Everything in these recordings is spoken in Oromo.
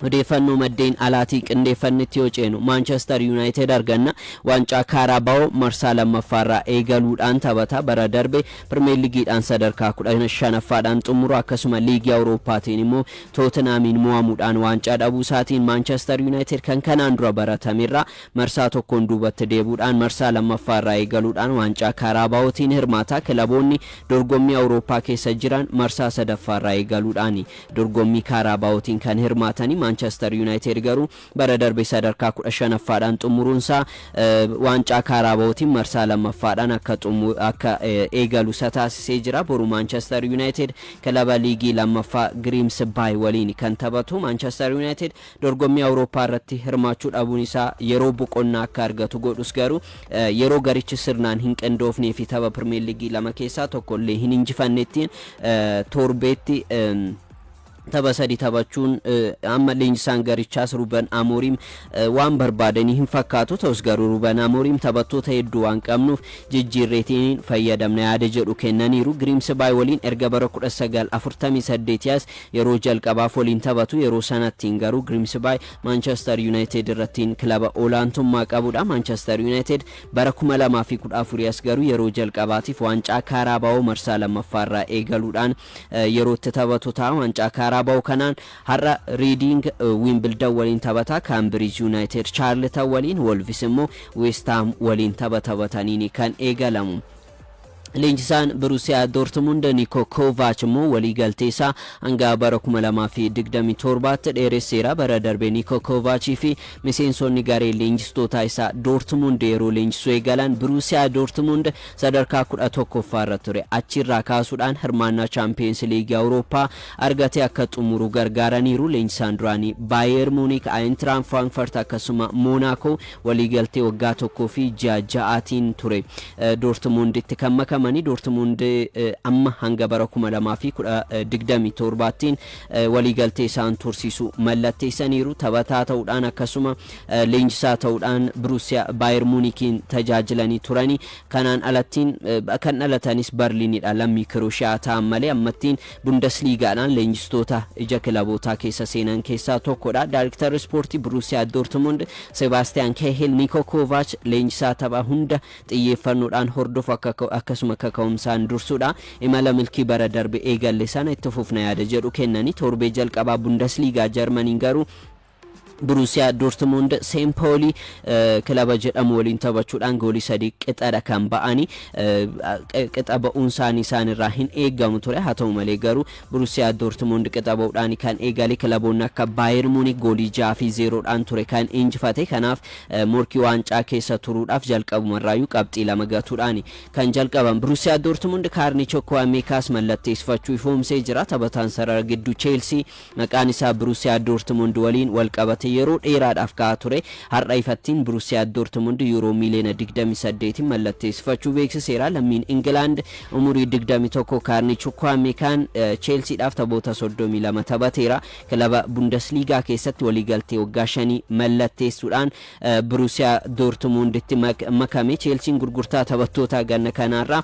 Odeeffannoo maddeen alaatii qindeeffannetti yoo ceenu, Maanchester Yunaayitid arganna waancaa Kaarabaawoo marsaa 2ffaarraa eegaluudhaan taphata. Bara darbe Pirimeerligiidhaan sadarkaa 15ffaadhaan xumuru akkasuma Liigii Awurooppaatiin immoo Tootinhaamiin mo'amuudhaan waancaa dhabuusaatiin Maanchester Yunaayitid kan kanaan dura baratamerraa marsaa tokkoon duubatti deebuudhaan marsaa 2ffaarraa eegaluudhaan waancaa Kaaraabaawootiin hirmaata. Kilaboonni dorgommii Awurooppaa keessa jiran marsaa 3ffaarraa eegaluudhaani Dorgommii Kaaraabaawootiin kan hirmaatani Maanchester Yunaayiteed garuu bara darbe sadarkaa 15ffaadhaan xumuruunsaa waancaa Kaaraabawootiin marsaa 2ffaadhaan akka akka eegalu isa taasisee jira. Boru Maanchester Yunaayiteed kilaba liigii 2ffaa Giriimsbaay waliin kan taphatu Maanchester Yunaayiteed Dorgommii Awurooppaa irratti hirmaachuu dhabuun isaa yeroo boqonnaa akka argatu godhus garuu yeroo garichi sirnaan hin qindoofnee fi tapha Pirimeer Liigii lama keessaa tokko illee hin injifannetti torbeetti tapha sadi taphachuun amma leenjisaan garichaas Ruben Amorim waan barbaadanii hin fakkaatu ta'us garuu Ruben Amorim taphattoota hedduu waan qabnuuf jijjiirreetiin fayyadamna yaada jedhu kennaniiru. Giriimsibaay waliin erga bara 1948 as Yeroo jalqabaaf waliin taphatu, yeroo sanattiin garuu Grimsby Maanchester Yunaayitid irrattiin kilaba olaantummaa qabudha. Maanchester Yunaayitid bara 2014 as garuu yeroo jalqabaatiif waancaa Kaaraabaawoo marsaa lammaffaarraa eegaluudhaan yeroo itti taphatu ta'a. Waancaa Kaaraabaawoo kanaan har'a Riidiing Wiimbildan waliin taphata, Kaambiriij Yunaayitid Chaarltan waliin, Wolvis immoo Weestaam waliin tapha taphataniini kan eegalamu. Leenjisaan Biruusiyaa Doortmund Niikoo Koovaach immoo waliigaltee isaa hanga bara 2027tti dheeresseera. Bara darbe Niikoo Koovaachii fi miseensonni garee leenjistootaa isaa Doortmund yeroo leenjisuu eegalan Biruusiyaa Doortmund sadarkaa 11ffaa irra ture. Achirraa kaasuudhaan hirmaannaa Chaampiyeens Liigii Awurooppaa argatee akka xumuru gargaaraniiru. Leenjisaan duraanii Baayeer Muuniik, Ayintiraak Firaankfurt akkasuma Moonaakoo Waliigaltee waggaa tokkoo fi ji'a ja'aatiin ture Doortimuunditti kan makamani. Doortimuund amma hanga bara 2027ttiin waliigaltee isaan tursiisu mallatteessaniiru. Taphataa ta'uudhaan akkasuma leenjisaa ta'uudhaan Biruusiya Baayer Muunikiin tajaajilanii turani. Kanaan alattiin kan dhalatanis Barliinidha. Lammii Kirooshiyaa ta'an malee ammattiin Bundasliigaadhaan leenjistoota ija kilabootaa keessa seenan keessaa tokkodha. Daariktarri ispoortii Buruusiyaa Doortimund Sebaastiyaan Keehil Niikoo Koovaach leenjisaa tapha hunda xiyyeeffannoodhaan hordofu akka akkasuma kaka'umsaan dursudha. Imala milkii bara darbe eegalle sana itti fufna yaada jedhu kennani. Torbee jalqabaa Bundasliigaa Jarmaniin garuu Buruusiyaa Doortimuund Seempoolii kilaba jedhamu waliin taphachuudhaan goolii sadii qixadha kan ba'ani. Qixa ba'uun isaanii isaan irraa hin eegamu ture. Haa ta'u malee garuu Buruusiyaa Doortimuund qixa ba'uudhaan kan eegale kilaboonni akka Baayer Muunik goolii 6 fi 0dhaan ture kan injifate. Kanaaf morkii waancaa keessa turuudhaaf jalqabuma irraayyuu qabxii lama gatuudhaani kan jalqaban. Buruusiyaa Doortimuund kaarnii Chokkuwameekaas mallatteessifachuu ifoomsee jira. Taphataan sarara gidduu Cheelsii Maqaan isaa Biruusiyaa Doortimund waliin wal qabate yeroo dheeraadhaaf ka'aa ture, har'a ifattiin Biruusiyaa Doortimund Yuuroo miiliyoona 28'n mallatteessifachuu beeksiseera. Lammiin Ingilaand umurii 21 Kaarnii Chukwuamekaan Cheelsiidhaaf taphoota 32 taphateera. Kilaba Bundesliigaa keessatti waliigaltee waggaa shanii mallatteessuudhaan Biruusiyaa Doortimunditti makame. Cheelsiin gurgurtaa taphattootaa ganna kanaarraa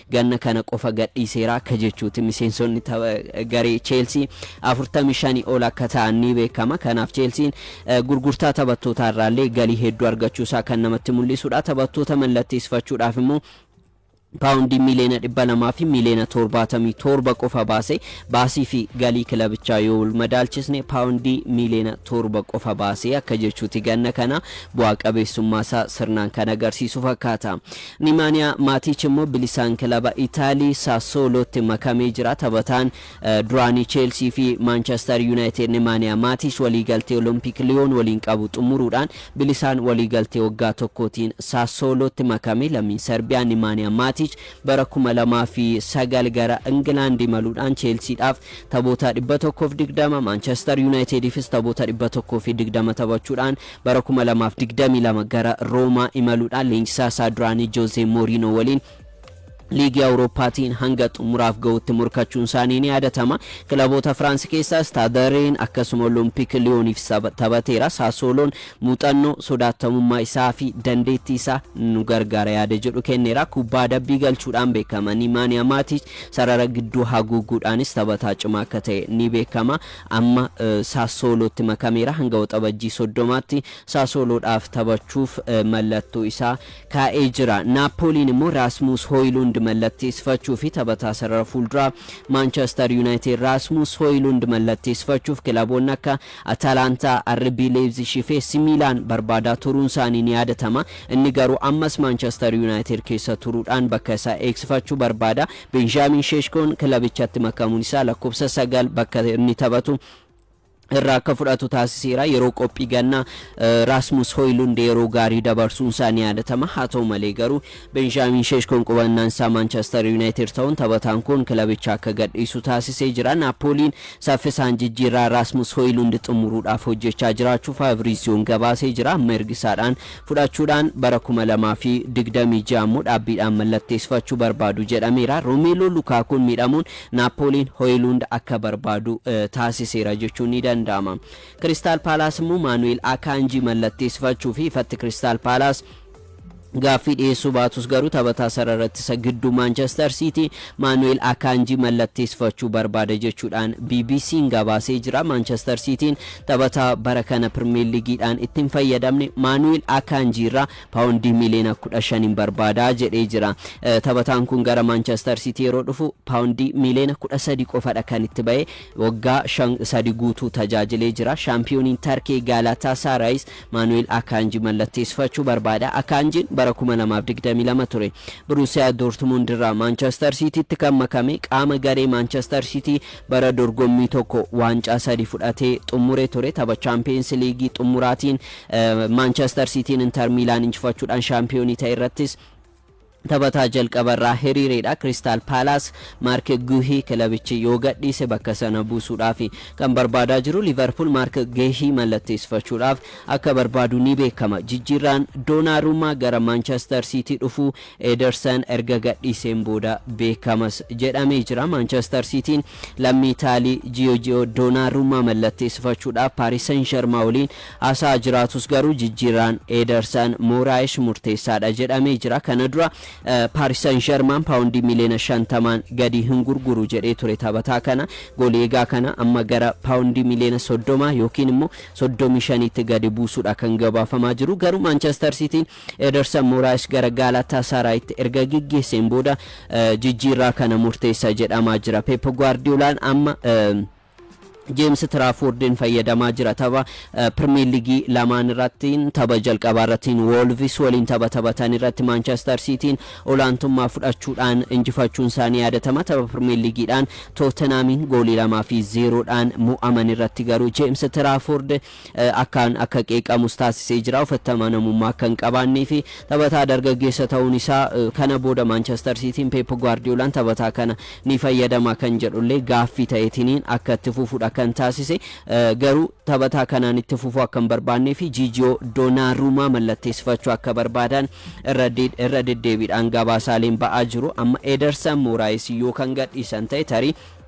Ganna kana qofa gadhiiseera akka jechuuti miseensonni tapha garee Cheelsii 45 ol akka ta'an ni beekama. Kanaaf Cheelsiin gurgurtaa taphattootaa irraallee galii hedduu argachuusaa kan namatti mul'isudha. Taphattoota mallatteessifachuudhaaf immoo paawundii miiliyoona 200 fi miiliyoona 77 qofa baase. Baasii fi galii kilabichaa yoo wal madaalchisne paawundii miiliyoona 7 qofa baase akka jechuuti ganna kana bu'aa qabeessummaa isaa sirnaan kan agarsiisu fakkaata. Nimaaniya Maatiich immoo bilisaan kilaba Itaalii Sassoolootti makamee jira. Taphataan duraanii Cheelsii fi Maanchester Yunaayitid Nimaaniya Maatiich waliigaltee Olompik Liyoon waliin qabu xumuruudhaan bilisaan waliigaltee waggaa tokkootiin Sassoolootti makame. Lammiin Sarbiyaa Nimaaniya Maatiich bara 2009 gara Ingilaand imaluudhaan Cheelsiidhaaf taphoota 120, Maanchester Yunaayitidiifis taphoota 120 taphachuudhaan Bara 2022 gara Roomaa imaluudhaan leenjisaa isaa duraanii Joozee Mooriinoo waliin liigii Awurooppaatiin hanga xumuraaf ga'utti morkachuun isaanii ni yaadatama. Kilaboota Firaansi keessaa Istaadariin akkasuma Olompik Liyooniif taphateera. Saasooloon muuxannoo, sodaatamummaa isaa fi dandeettii isaa nu gargaara yaada jedhu kenneera. Kubbaa adabbii galchuudhaan beekama. Nimaaniyaa Maatiich sarara gidduu haguuguudhaanis taphataa cimaa akka ta'e ni beekama. Amma Sassoolootti makameera. Hanga Waxabajjii 30tti Sassooloodhaaf taphachuuf mallattoo isaa kaa'ee jira. Naappooliin immoo Raasmuus Hooyilund mallatteessifachuufi taphataa sarara fuulduraa Maanchester Yuunaayitid Raasmuus Hooyilund mallatteessifachuuf kilaboonni akka Atalaantaa, RB Leeyipzishii fi AC Miilaan barbaadaa turuunsaanii ni yaadatama. Inni garuu ammas Maanchester Yuunaayitid keessa turuudhaan bakka isaa eegsifachuu barbaada. Beenjaamiin Sheeshkoon kilabichatti makamuun isaa lakkoofsa sagal bakka inni taphatu irraa akka fudhatu taasiseera. Yeroo qophii gannaa Raasmus Hoylund yeroo gaarii dabarsuun isaa ni yaadatama. Haa ta'u malee garuu Beenjaamiin Sheeshkoon qubannaan isaa Maanchester Yuunaayitid ta'uun taphataan kun kilabicha akka gadhiisu taasisee jira. Naappooliin saffisaan jijjiirraa Raasmus Hoylund xumuruudhaaf hojjechaa jiraachuu Faaviriisiyoon gabaasee jira. Amma ergisaadhaan fudhachuudhaan bara 2026 immoo dhaabbiidhaan mallatteessifachuu barbaadu jedhameera. Romeeloo Lukaakuun miidhamuun Naappooliin Hoyiluund akka barbaadu taasiseera jechuun ni danda'ama. Kiristaal Paalaas immoo Maanu'eel Akaanjii mallatteessifachuu fi ifatti Kiristaal Paalaas gaaffii dhiyeessuu baatus garuu taphataa sarara ittisa gidduu Maanchestar Siitii Maanu'eel Akaanjii mallatteessifachuu barbaada jechuudhaan BBC'n gabaasee jira. Maanchestar Siitiin Taphataa bara kana Pirmeer Liigiidhaan itti hin fayyadamne Maanu'eel Akaanjii irraa paawondii miiliyoona 15n barbaada jedhee jira. Taphataan kun gara Maanchestar Siitii yeroo dhufu paawondii miiliyoona 13 qofadha kan itti ba'e. Waggaa 5 sadi guutuu tajaajilee jira. Shaampiyooniin Tarkee Gaalaataasaaraayis Maanu'eel Akaanjii mallatteessifachuu barbaada. Akaanjiin bara 2022 ture Biruusiyaa Doortmund irraa Maanchestar Siitiitti kan makame qaama garee Maanchestar Siitii Bara dorgommii tokko waancaa sadi fudhatee xummure ture. Tapha Chaampiyeens Liigii xummuraatiin Maanchester Siitiin Intar Miilaan injifachuudhaan shaampiyoonii ta'e irrattis taphataa jalqaba irraa hiriireedha. Kiristaal Paalaas Maark Guuhii kilabichi yoo gadhiise bakka sana buusuudhaaf kan barbaadaa jiru. Liiverpuul Maark Guuhii mallatteessifachuudhaaf akka barbaadu ni beekama. Jijjiirraan Doonaaruumaa gara Maanchester Siitii dhufuu Edersan erga gadhiiseen booda beekamas jedhamee jira. Maanchester Siitiin lammii Itaalii Jiyoojiyoo Doonaarummaa mallatteessifachuudhaaf Paaris Sen Jermaa waliin haasa'aa jiraatus garuu jijjiirraan Edersan Mooraayish murteessaadha jedhamee jira. Kana dura Paaris Sen Jermaan paawundii miliyoona 50n gadi hin gurguru jedhee ture taphataa kana. Goolii eegaa kana amma gara paawundii miliyoona 30 yookiin immoo 35tti gadi buusuudha kan gabaafamaa jiru. Garuu Maanchester Siitiin Edersan Moraes gara Gaalaataasaraayitti erga geggeesseen booda jijjiirraa kana murteessa jedhamaa jira. Peep Guwaardiyoolaan amma Jeems Tiraafoordiin fayyadamaa jira tapha Pirimeer Liigii lamaan irratti tapha jalqabaa irratti Woolvis waliin tapha taphatan irratti Maanchestar Siitiin olaantummaa fudhachuudhaan injifachuun isaanii yaadatama. Tapha Pirimeer Liigiidhaan Tootenaamiin goolii lamaa fi zeeroodhaan mo'aman irratti garuu Jeems Tiraafoord akkaan akka qeeqamus taasisee jira. Ofitti amanamummaa akka hin qabaannee fi taphataa dargaggeessa ta'uun isaa kana booda Maanchester Siitiin Peep Guwaardiyoolaan taphataa kana ni fayyadama kan jedhullee gaaffii ta'eetiniin akka itti fufudha kan taasise. Garuu taphataa kanaan itti fufuu akka hin barbaannee fi Jiijiyoo Doonaaruumaa mallatteessifachuu akka barbaadan irra deddeebiidhaan gabaasaaleen ba'aa jiru. Amma Edersan Mooraayis yoo kan gadhiisan ta'e tarii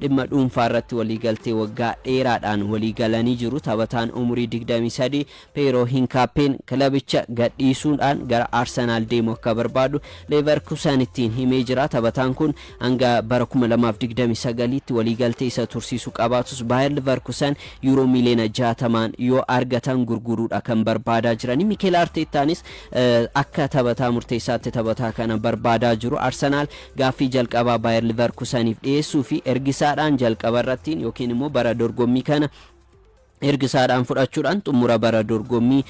Dhimma dhuunfaa irratti waliigaltee waggaa dheeraadhaan waliigalanii jiru taphataan umurii 23 Peeroo Hinkaappeen kilabicha gadhiisuudhaan gara Arsenaal deemuu akka barbaadu Leevarkusanittiin himee jira. Taphataan kun hanga bara 2029tti waliigaltee isa tursiisu qabaatus Baayar Livarkusan Yuuroo miiliyoona 60n yoo argatan gurguruudha kan barbaadaa jiranii. Mikeel Arteettaanis akka taphataa murteessaatti taphataa kana barbaadaa jiru. Arsenaal Gaaffii jalqabaa Bayer Liverkusaniif dhiyeessuu fi ergisaadhaan jalqaba irrattiin yookiin immoo bara dorgommii kana ergisaadhaan fudhachuudhaan xumura bara dorgommii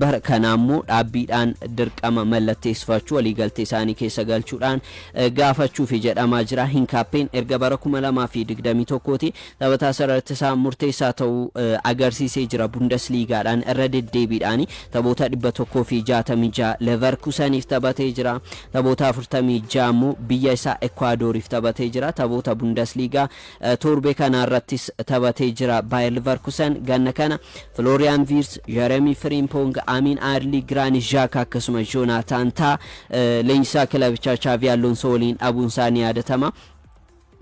bara kanaa immoo dhaabbiidhaan dirqama mallatteessifachuu waliigaltee isaanii keessa galchuudhaan gaafachuufi jedhamaa jira. Hinkaappeen erga bara 2021ti Taphataa sarara ittisaa murteessaa ta'uu agarsiisee jira. Bundesliigaadhaan irra deddeebiidhaan taphoota 166 Leverkuseniif taphatee jira. Taphoota 46 immoo biyya isaa Ekwaadoriif taphatee jira. Taphoota Bundesliigaa torbee kanaa irrattis taphatee jira. Baayir Leverkusen ganna kana Filooriyaan Viirs, Jeremii Firiimpoong, Amiin Aarlii, Giraanit Zhaaka akkasumas Joonaataan Taa leenjisaa kilabichaa Chaavii Alloonsoo waliin dhabuun isaa ni yaadatama.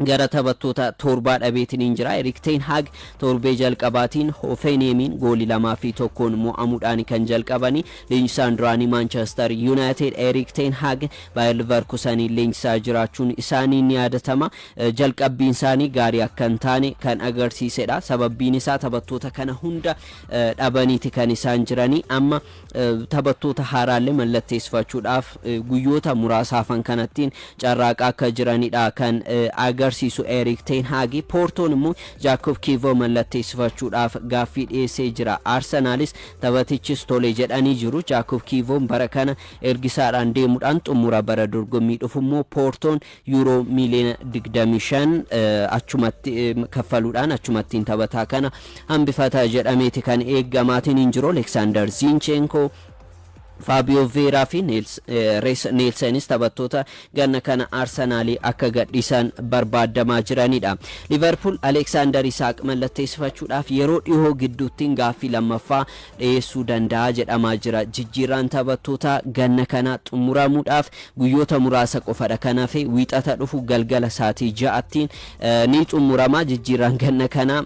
Gara taphattoota toorbaa dhabeetiniin jira. Erik Ten Hag toorbee jalqabaatiin Hoofeenheemiin gooli 2 fi 1n mo'amuudhaan kan jalqabani. Leenjisaan duraanii Maanchester Yuunaayitid Erik Ten Hag Baayer Liverkusaniin leenjisaa jiraachuun isaanii ni yaadatama. Jalqabbiin isaanii gaarii akka hin taane kan agarsiisedha. Sababbiin isaa taphattoota kana hunda dhabaniiti kan isaan jiranii. Amma taphattoota haaraalle mallatteessifachuudhaaf guyyoota muraasa hafan kanattiin carraaqaa akka jiranidha kan agarsiisu Erik Ten Hag. Poortoon immoo Jaakoob Kiivoo mallatteessifachuudhaaf gaaffii dhiyeessee jira. Arsenaalis taphatichis tole jedhanii jiru. Jaakoob Kiivoon bara kana ergisaadhaan deemuudhaan xumura bara dorgommii dhufu immoo Poortoon Yuuroo miiliyoona 25 achumatti kaffaluudhaan achumattiin taphataa kana hambifata jedhameeti kan eegamaatiin hin jiru. Aleksaandar Ziincheenkoo Faabiyoo Veeraa fi Rees Neelsenis taphattoota ganna kana Arsenaalii akka gadhiisan barbaadamaa jiranidha. Liverpool Aleksaandar Isaaq mallatteessifachuudhaaf yeroo dhihoo gidduuttiin gaaffii lammaffaa dhiyeessuu danda'a jedhamaa jira. Jijjiirraan taphattootaa ganna kanaa xumuramuudhaaf guyyoota muraasa qofadha kan hafe. Wiixata dhufu galgala saatii 6tti ni xumurama jijjiirraan ganna kanaa.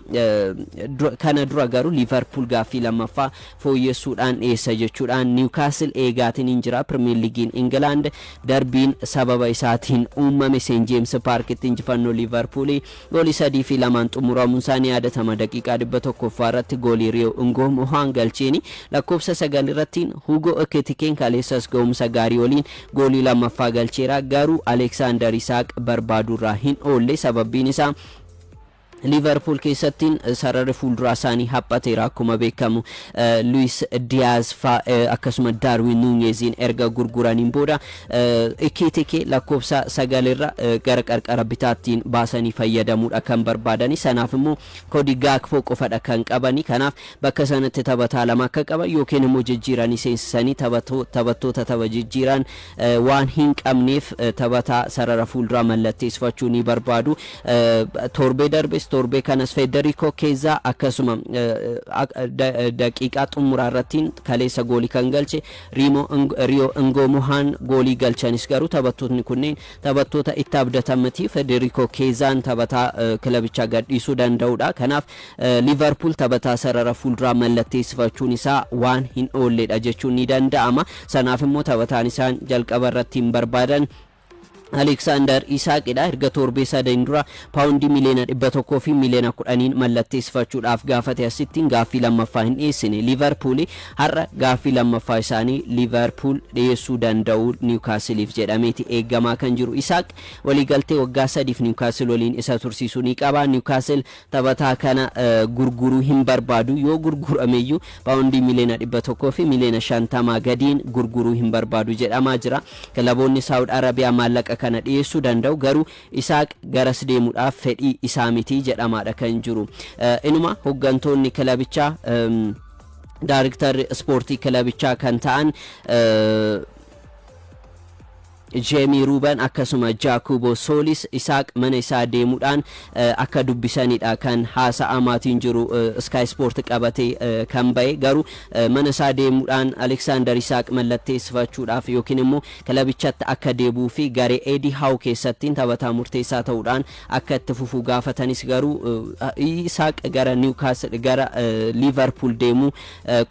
Kana dura garuu Liivarpuul gaaffii lammaffaa fooyyessuudhaan dhiyeessa jechuudhaan Niwkaasil eegaatiin hin jira. Pirimeer Liigiin Ingilaand darbiin sababa isaatiin uumame Seen Jeems Paarkitti injifannoo Liivarpuulii Goolii 3 fi 2n xumuramunsaa ni yaadatama. Daqiiqaa 100ffaa irratti goolii Riyo Ngoo Mohaan galcheeni. Lakkoofsa 9 irratti Hugo Ekitikeen kaleessas gahumsa gaarii waliin goolii 2ffaa galcheera. Garuu Aleksaandar Isaaq barbaadurraa hin oolle. Sababbiin isaa Liiverpuul keessatti sararri fuulduraa isaanii haphateera. Akkuma beekamu Luis Diyaaz faa akkasuma Daarwin Nuunyeziin erga gurguraniin booda Icciitii kee lakkoofsa 9 irra gara qarqara bitaattiin baasanii fayyadamuudha kan barbaadani. Sanaaf immoo koodii Gakpo qofadha kan qabani. Kanaaf bakka sanatti taphataa lama akka qaban yookiin immoo jijjiiranii seensisanii taphattoota tapha jijjiiraan waan hin qabneef taphataa sarara fuulduraa mallatteessifachuu ni barbaadu. Torbee darbes torbee kanas Federico Chiesa akkasuma daqiiqaa xumuraa irrattiin kaleessa goolii kan galche Riimo ng Riyo Ngoo Muhaan goolii galchanis garuu taphattootni kunneen taphattoota itti abdatan miti. Federiko Keezaan taphataa kilabicha gadhiisuu danda'uudha. Kanaaf Liivarpuul taphataa sarara fuulduraa mallatteessifachuun isaa waan hin oolledha jechuun ni danda'ama. Sanaaf immoo taphataan isaan jalqaba irratti hin barbaadan Aleeksaandar Isaaqidha. Erga torbee sadaniin dura paawundii miliyoona 100 fi miliyoona 10n mallatteessifachuudhaaf gaafate asitti gaaffii lammaffaa hin dhiyeessine. Liivarpuul har'a gaaffii lammaffaa isaanii Liivarpuul dhiyeessuu danda'u Niwukaasiliif jedhameeti eegamaa kan jiru. Isaaq waliigaltee waggaa sadiif Niwukaasil waliin isa tursiisu ni qaba. Niwukaasil Taphataa kana gurguruu hin barbaadu. Yoo gurgurameyyuu paawondii miliyoona 100 fi miliyoona 50 gadiin gurguruu hin barbaadu jedhamaa jira. Kilaboonni Saawud Arabiyaa maallaqa kana dhiyeessuu danda'u, garuu Isaaq garas deemuudhaaf fedhii isaa miti jedhamaadha kan jiru. Inuma hoggantoonni kilabichaa daariktarri ispoortii kilabichaa kan ta'an Jeemii Ruuban akkasuma Jaakuuboo Soolis Isaaq mana isaa deemudhaan akka dubbisanidha kan haasa'amaatiin jiru Sky Sport qabate kan ba'e garuu mana isaa deemudhaan Aleksaandar Isaaq mallatteessifachuudhaaf yookiin immoo kilabichatti akka deebuu fi garee Eedii Haaw keessattiin taphataa murteessaa ta'uudhaan akka itti fufuu gaafatanis garuu Isaaq gara Niwkaasl gara Liivarpuul deemuu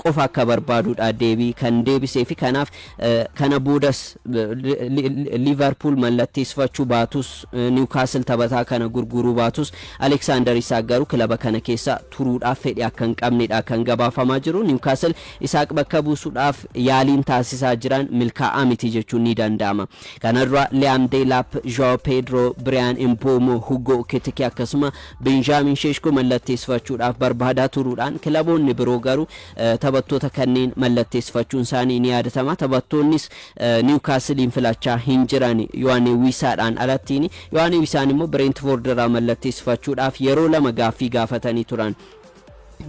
qofa akka barbaadudha deebii kan deebisee fi kanaaf Kana boodas Liivarpuul mallatteessifachuu baatus Niwukaasl taphataa kana gurguruu baatus Aleksaandar Isaaq garuu kilaba kana keessa turuudhaaf fedhii akka hin qabnedha kan gabaafamaa jiru. Niwukaasl Isaaq bakka buusuudhaaf yaaliin taasisaa jiran milkaa'aa miti jechuun ni danda'ama. Kana dura Liyaam Deelaap, Zhao Pedro, Biriyaan Imboomo, Hugo Kitike akkasuma Benjaamin Sheeshko mallatteessifachuudhaaf barbaadaa turuudhaan kilaboonni biroo garuu Taphattoota kanneen mallatteessifachuunsaanii ni yaadatama. Taphattoonnis Niwukaasiliin filachaa hin jiran Yohaanee Wiisaadhaan alattiini. Yohaanee Wiisaan immoo Bireentifoord irraa mallatteessifachuudhaaf yeroo lama gaaffii gaafatanii turan.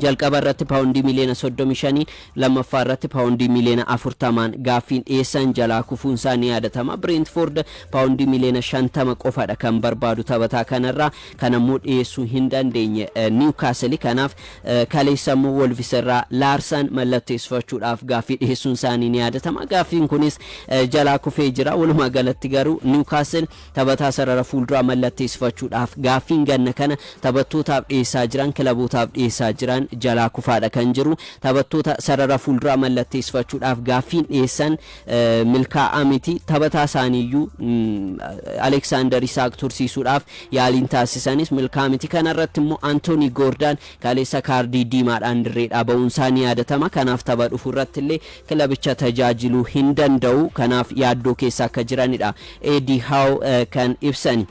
Jalqaba irratti paawundii miliyoona 35n, lammaffaa irratti paawundii miliyoona 40n gaaffiin dhiyeessan jalaa kufuunsaa ni yaadatama. Bireentifoord paawundii miliyoona 50 qofadha kan barbaadu taphataa kanarraa. kan ammoo dhiyeessuu hin dandeenye Niwukaasili kanaaf kaleessa ammoo Wolvis irraa Laarsaan mallatteessifachuudhaaf gaaffii dhiyeessuun isaanii ni yaadatama. Gaaffiin kunis jalaa kufee jira. Walumaa galatti garuu Niwukaasil taphataa sarara fuulduraa mallatteessifachuudhaaf gaaffiin ganna kana taphattootaaf dhiyeessaa jiran kilabootaaf dhiyeessaa jiran jalaa kufaadha kan jiru. Taphattoota sarara fuulduraa mallatteessifachuudhaaf gaaffiin dhiyeessan milkaa'aa miti. Taphataa isaaniiyyuu Aleksaandar Isaak tursiisuudhaaf yaaliin taasisanis milkaa'aa miti. Kana irratti immoo Antoonii Goordaan kaleessa kaardii diimaadhaan dirreedhaa ba'uun isaa ni yaadatama. Kanaaf tapha dhufu irratti illee kilabicha tajaajiluu hin danda'u. Kanaaf yaaddoo keessa akka jiranidha Eedii Haaw kan ibsani.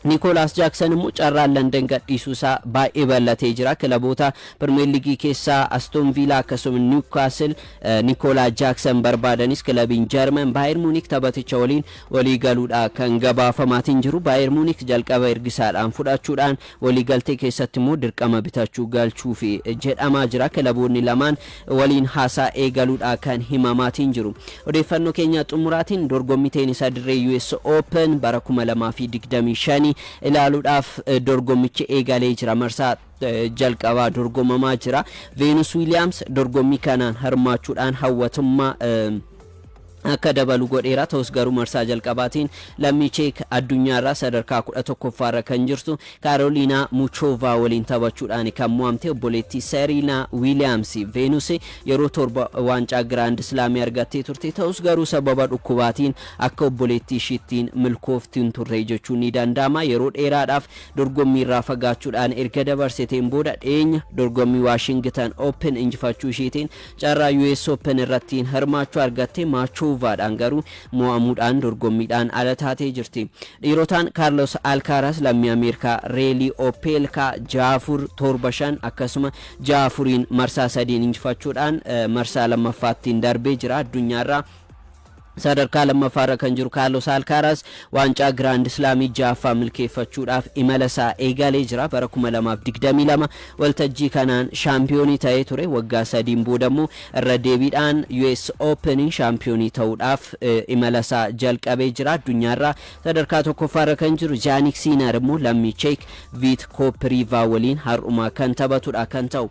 Nikoolaas Jaaksan immoo carraan Landan gadhiisuu isaa baay'ee bal'atee jira. Kilaboota Pirimeer Liigii keessaa Astoon Viilaa akkasuma Niwkaasil Nikoolaa Jaaksan barbaadanis kilabiin Jarman Baayer Muunik taphaticha waliin walii galuudha kan gabaafamaatiin jiru. Baayer Muunik jalqaba ergisaadhaan fudhachuudhaan Waliigaltee keessatti immoo dirqama bitachuu galchuufi jedhamaa jira. Kilaboonni lamaan waliin haasaa eegaluudha kan himamaatiin jiru. Odeeffannoo keenya xumuraatiin dorgommii teenisaa dirree US Open bara 2025 ilaaluudhaaf dorgommichi eegalee jira. Marsaa jalqabaa dorgomamaa jira. Veenus Wiiliyaams dorgommii kanaan hirmaachuudhaan hawwatummaa akka dabalu godheera. Ta'us garuu marsaa jalqabaatiin lammii Cheek addunyaarraa sadarkaa 11ffaarra kan jirtu Kaaroliinaa Muchoovaa waliin taphachuudhaan kan mo'amte obboleettii Seeriinaa Wiiliyaams Veenus yeroo torba waancaa Giraand Islaamii argattee turte. Ta'us garuu sababa dhukkubaatiin akka obboleettii ishiittiin milkooftu hin turre jechuun ni danda'ama. Yeroo dheeraadhaaf dorgommiirraa fagaachuudhaan erga dabarsiteen booda dhiyeenya dorgommii Waashingitan Open injifachuu ishiitiin Carraa US Open irrattiin hirmaachuu argatte Maachoovaadhaan garuu mo'amuudhaan dorgommiidhaan ala taatee jirti. Dhiirotaan Kaarlos Alkaaraas lammii Ameerikaa Reelii Opeelkaa 6-4, 7-5 akkasuma 6-4n marsaa sadiin injifachuudhaan marsaa lammaffaattiin darbee jira. Addunyaarraa. Sadarkaa lammaffaarra kan jiru Kaarlos Alkaaraaz waancaa Giraand Islaamii ja'affaa milkeeffachuudhaaf imalasaa eegalee jira. Bara 2022 waltajjii kanaan shaampiyoonii ta'ee ture. Waggaa sadiin boodammoo irra deebiidhaan US Oopeniin shaampiyoonii ta'uudhaaf imalasaa jalqabee jira. Addunyaarraa sadarkaa tokkoffaarra kan jiru Jaanik Siinar immoo lammii Cheek Viit Kooppiriivaa waliin har'uma kan taphatudha kan ta'u.